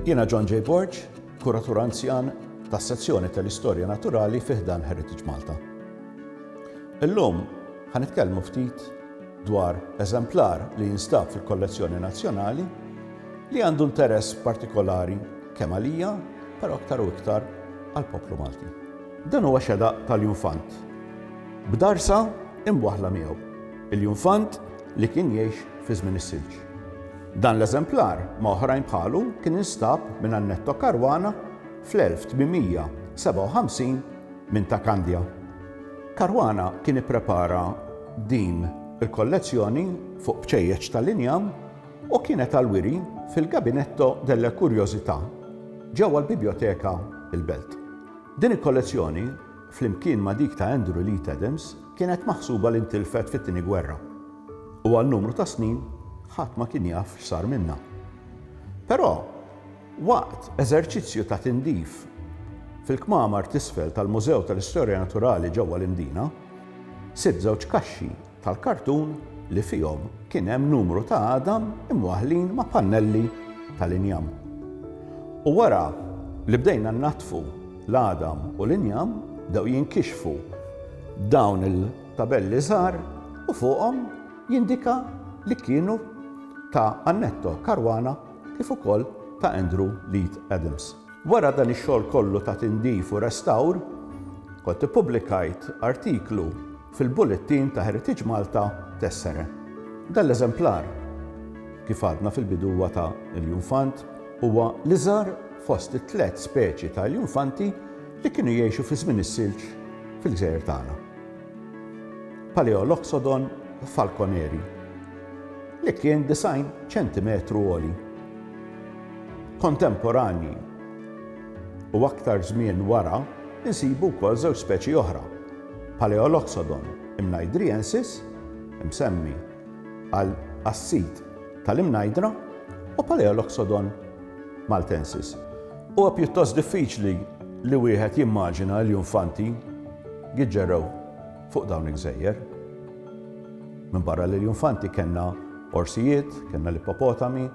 Jiena John J. Borg, kuratur anzjan tas sezzjoni tal-Istorja Naturali fiħdan Heritage Malta. Illum ħanitkellmu ftit dwar eżemplar li jinstab fil-kollezzjoni nazzjonali li għandu interess partikolari kemm għalija, però aktar u iktar għall-poplu Malti. Dan huwa xeda tal-junfant. B'darsa imwaħħla miegħu. Il-junfant li kien jgħix fi żmien is-silġ. Dan l-eżemplar ma' oħrajn bħalu kien instab minn Annetto Caruana fl-1857 minn ta' Kandja. Caruana kien ipprepara din il-kollezzjoni fuq bċejjeċ tal-injam u kienet għal wiri fil-Gabinetto delle Curiosità ġewwa l-Biblioteka il-Belt. Din il-kollezzjoni, flimkien ma' dik ta' Andrew Leet Adams, kienet maħsuba li ntilfet fit-Tieni Gwerra, u għal numru ta' snin ħadd ma kien jaf x'sar minnha. Però, waqt eżerċizzju ta' tindif fil-kmamar t'isfel tal-Mużew tal-Istorja Naturali ġewwa l-Imdina, sibt żewġ kaxxi tal-kartun li fihom kien hemm numru ta' għadam imwaħħlin ma' pannelli tal-injam. U wara li bdejna nnaddfu l-għadam u l-injam bdew jinkixfu dawn il-tabelli żgħar u fuqhom jindika li kienu ta' Annetto Caruana kif ukoll ta' Andrew Leith Adams. Wara dan ix-xogħol kollu ta' tindif u restawr, kont ippubblikajt artiklu fil-Bullettin ta' Heritage Malta Tessere. Dan l-eżemplar, kif għadna fil-bidu huwa ta' iljunfant, huwa l-iżgħar fost it-tliet speċi ta' iljunfanti li kienu jgħixu fi żmien is-silġ fil-gżejjer tagħna. Paleoloxodon falconeri, li kien 90 ċentimetru għoli. Kontemporanji u aktar żmien wara insibu wkoll żewġ speċi oħra, Paleoloxodon imnajdriensis, imsemmi għal għas-sid tal-imnajdra, u Paleoloxodon maltensis. Huwa pjuttost diffiċli li wieħed jimmaġina l-iljufanti jiġġerrew fuq dawn il-gżejjer. Minbarra l-iljufanti kellna orsijiet, kellna l-ippopotami,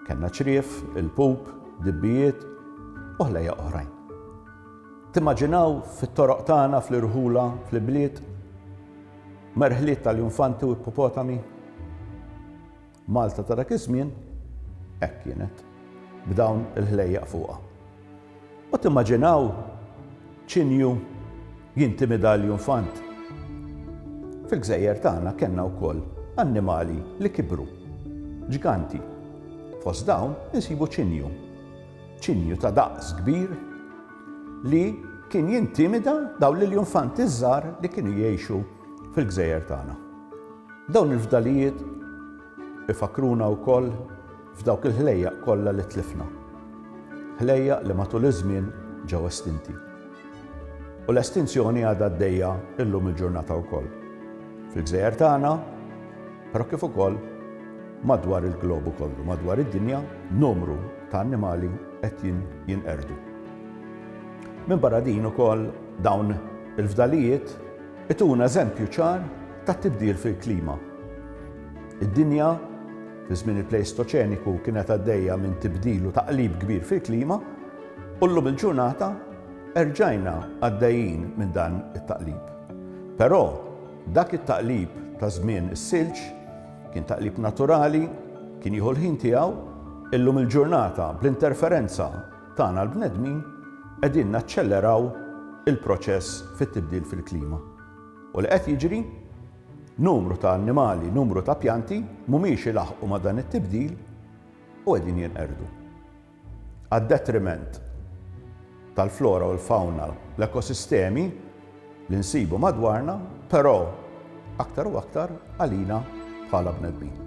kellna ċrief, il-pup, dibbijiet u ħlejjaq oħrajn. Timmaġinaw fit-toroq tagħna, fl-irħula, fl-ibliet, merħliet tal-infanti u ippopotami? Malta ta' dak iż-żmien hekk kienet, b'dawn il-ħlejjaq fuqha. U timmaġinaw ċinju jintimida l-infant? Fil-gżejjer tagħna kellna wkoll annimali li kibru, ġganti. Fost dawn insibu ċinju. Ċinju ta' daqs kbir li kien jintimida dawn l-iljunfanti ż-żgħar li kienu jgħixu fil-gżejjer tagħna. Dawn il-fdalijiet ifakruna wkoll f'dawk il-ħlejjaq kollha li tlifna. Ħlejjaq li matul iż-żmien ġew estinti. U l-estinzjoni għadha għaddejja llum il-ġurnata wkoll. Fil-gżejjer tagħna, Però kif ukoll madwar il-globu kollu, madwar id-dinja, numru ta' annimali qed jinqerdu. Minn barra din ukoll dawn il-fdalijiet ituna eżempju ċar ta' tibdil fil-klima. Id-dinja fi żmien il-Pleistoċeniku kienet għaddejja minn tibdil u taqlib kbir fil-klima u llum il-ġurnata erġajna għaddejjin minn dan it-taqlib. Però Dak it-taqlib ta' żmien is-silġ kien taqlib naturali, kien jieħu l-ħin tiegħu, illum il-ġurnata bl-interferenza tagħna l-bnedmin qegħdin naċċelleraw il-proċess fit-tibdil fil-klima. U li qed jiġri? Numru ta' annimali, numru ta' pjanti mhumiex ilaħħqu ma' dan it-tibdil u qegħdin jinqerdu. għad-detriment tal-flora u l-fawna, l-ekosistemi li nsibu madwarna, però aktar u aktar għalina bħala bnedmin.